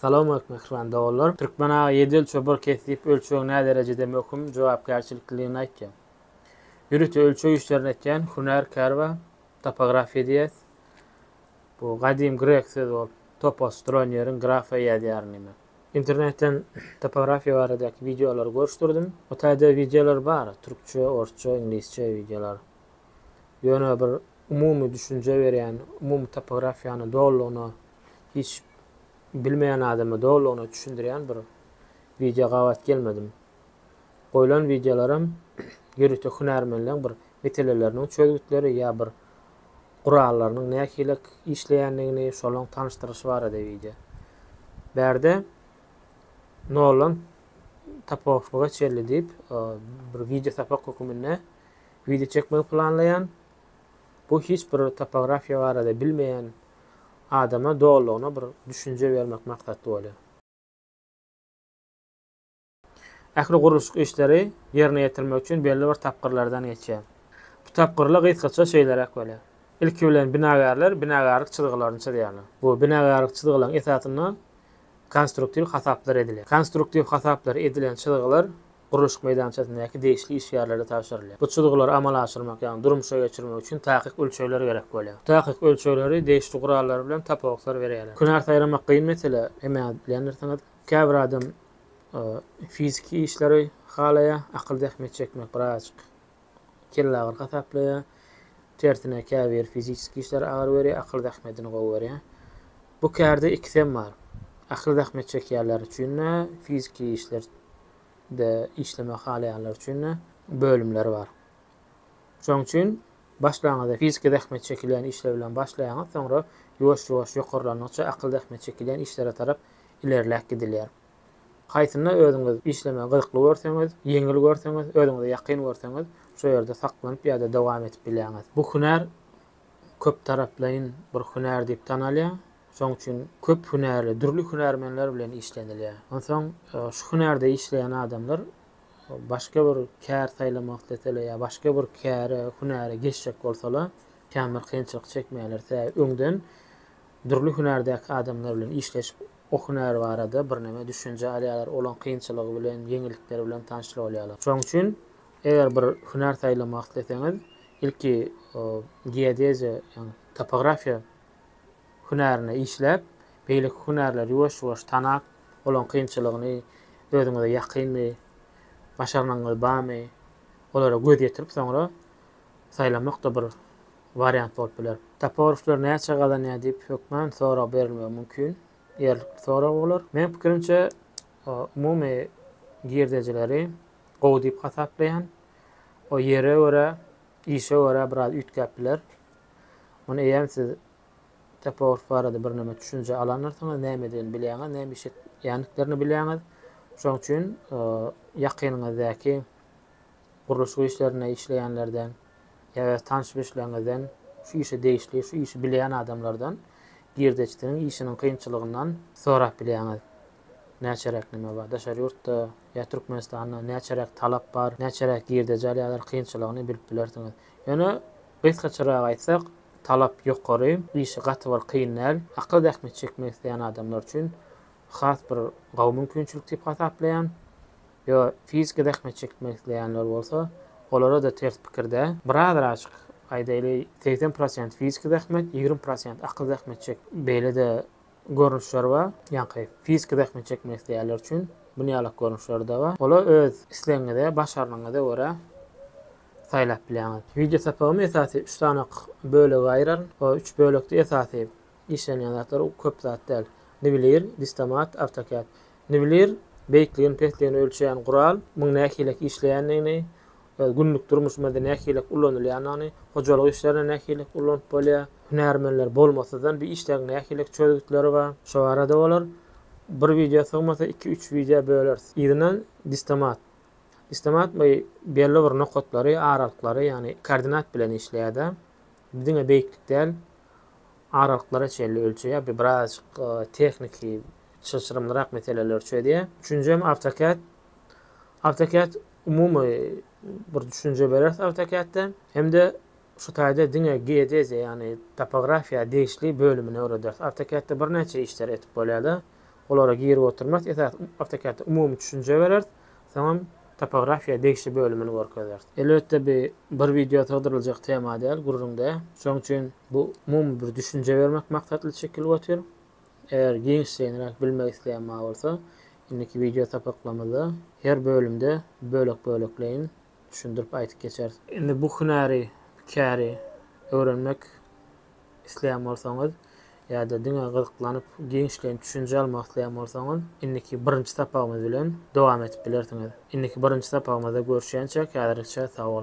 Salamaleýkum mähriban doganlar. Türkmen aga ýedel çopar kesgip ölçegiň näderejede möhüm, jogapkärçiliklidigini aýtýar. Ýörite ölçeg işlerini etýän hünär kär bar, topografiýa diýýäs. Bu gadym grek sözi bolup, topos dronýeriň grafiýa ýazýaryn diýmek. Internetden topografiýa baradaky wideolary görüşdirdim. O taýda wideolar bar, türkçe, orsça, iňlisçe wideolar. Ýöne bir umumy düşünje berýän, umumy topografiýany dolulygyna hiç bilmeýän adama dolugyna düşündirýän bir wideo gabat gelmedim. Goýlan wideolaram ýörite hünärmenleň bir meseleleriniň çözgütleri ýa bir gurallarynyň nähili işleýändigini şolaň tanyşdyryşy barada wideo. Bärde noldan tapohga çenli diýip bir wideo sapak höküminde wideo çekmegi planlaýan. Bu hiç bir topografiýa barada bilmeýän adama dolulygyna bir düşünje bermek maksatly bolýar. Ähli gurluşyk işleri ýerine ýetirmek üçin belli bir tapgyrlardan geçýär. Bu tapgyrlar gysgaça şeýleräk bolýar. Ilki bilen binagärler binagärlik çyzgylaryny çyzýarlar. Bu binagärlik çyzgylaryň esasynda konstruktiw hasaplar edilýär. Konstruktiw hasaplar edilen çyzgylar gurluşyk meýdançasyndaky degişli işgärlere tabşyrylýar. Bu çyzgylary amala aşyrmak, ýagny durmuşa geçirmek üçin takyk ölçegler gerek bolýar. Bu takyk ölçegleri degişli gurallar bilen tapawutlar berýärler. Künä saýlamak kyn mesele, emäňiz bilýändirsiňiz. Käbir adam fiziki işleri halaýar, akyl zähmeti çekmek biraz kellagyryk hasaplaýar. Tersine, käbiri fiziki işleri agyr görýär, akyl zähmetini gowy görýär. Bu kärde ikisem bar. Akyl zähmet çekýänler üçin-de, fiziki işlerde işlemek halaýanlar üçin-de bölümler bar. Şonuň üçin başlangyçda fiziki zähmet çekilýän işler bilen başlaýaňyz, soňra ýuwaş-ýuwaş ýokarlandygyça akyl zähmet çekilýän işlere tarap ilerläp gidilýär. Haýsynda özüňiz işlemegi gyzykly görseňiz, ýeňil görseňiz, özüňize ýakyn görseňiz, şo ýerde saklanyp ýa-da dowam edip bilýäňiz. Bu hünär köptaraplaýyn bir hünär diýip tanalýar. Şonuň üçin köp hünärli, dürli hünärmenler bilen işlenilýär. Onsoň şu hünärde işleýän adamlar başga bir kär saýlamak isleseler ýa başga bir käre, hünäre geçjek bolsalar, känbir kynçylyk çekmeýärler. Sebäbi öňden dürli hünärdäki adamlar bilen işleşip, O hünär barada birneme düşünje alýarlar, olaň kynçylygy bilen, ýeňillikleri bilen tanyş bolýarlar. Şonuň üçin eger bir hünär saýlamak isleseňiz, ilki geodeziýa, ýagny topografiýa hünärine işläp, beýleki hünärleri ýuwaş-ýuwaş tanap, olaň kynçylygyny, özüňize ýakynmy, başarnygyňyz barmy, olara göz ýetirip soňra saýlamak-da bir wariant bolup biler. Toporowlar näçe gazanýar diýip hökman sorag berilmegi mümkin. Ýerlikli sorag bolar. Meň pikirimçe umumy girdejileri gowy diýip hasaplaýan. O ýere görä, işe görä biraz üýtgäp biler. Muny eýýäm siz Toporow barada birneme düşünje alanlarsyňyz, nämedigini bilýäňiz, näme iş etýändiklerini bilýäňiz. Şoň üçin ýakynyňyzdaky gurluşyk işlerinde işleýänlerden, Eger tanyş-bilişleriňizden, şu işe degişli, şu işi bilýän adamlardan girdeçdiniň işiniň kynçylygyndan sorap bilýäňiz. Näçeräk näme bar, daşary ýurtda ýa Türkmenistanda näçeräk talap bar, näçeräk girdeji alýarlar, kynçylygyny bilip bilersiňiz. Ýöne gysgaçarak aýtsak, talap ýokary, işi gaty bir kyn däl. Akyl zähmeti çekmek isleýän adamlar üçin has bir gowy mümkinçilik diýip hasaplaýan. Ýa fiziki zähmet çekmek isleýänler bolsa, olara-da ters pikir däl. Birazar açyk aýdaýly, segsen prosent fiziki zähmet, ýigrimi prosent akyl zähmet çek. Beýle-de görnüşler bar. Ýaňky fiziki zähmet çekmek isleýänler üçin bu ýalak görnüşler-de bar. Olar öz islegiňize, başarnygyňyza görä saýlap bilýäňiz. Wideo sapagymy esasy üç sany bölege aýyraryn. O üç bölekde esasy işlenýän zatlar köp zat däl. Niwlir, Distomat, AutoCAD. Niwlir, beýikligini, pesligini ölçeýän gural, muň nähilek işleýändigini, günlük durmuşymyzda nähilek ulanylýandygyny, hojalyk işlerinde nähilek ulanyp bolýar, hünärmenler bolmasyzdan bir işleň nähilek çözgütleri bar, şo barada bolar. Bir wideo sygmasa, iki-üç wideo böleris. Yzyndan distomat. Distomat bu belli bir nokatlary, aralyklary, ýagny koordinat bilen işleýär-de. Diňe beýiklik däl, aralyklara çenli ölçeýär. Bu birazajyk tehniki çylşyrymlyrak meseleleri çözýär. Üçünjim AutoCAD. AutoCAD umumy bir düşünje bereris AutoCAD-de hem-de şu taýda diňe geodeziýa, ýagny topografiýa degişli bölümini öwrederis. AutoCAD-de birnäçe işleri etip bolýar-da, olara girip oturmarys. Esasy AutoCAD-de umumy düşünje bereris. Soňam topografiýa degişli bölümini görkezeris. Elbetde bi bir wideo sygdyryljak tema däl, gürrüňde. Şoň üçin bu umumy bir düşünje bermek maksatly çekilip otyr. Eger giňişleýinräk bilmek isleýän ma bolsa, indiki wideo sapaklamyzda her bölümde bölek-bölekleýin düşündirip aýdyp geçeris. Indi bu hünäri, käri öwrenmek isleýän bolsaňyz ýa-da diňe gyzyklanyp giňişleýin düşünje almak isleýän bolsaňyz indiki birinji sapagymyz bilen dowam edip bilersiňiz. Indiki birinji sapagymyzda görüşýänçäk häzirlikçe sag boluň.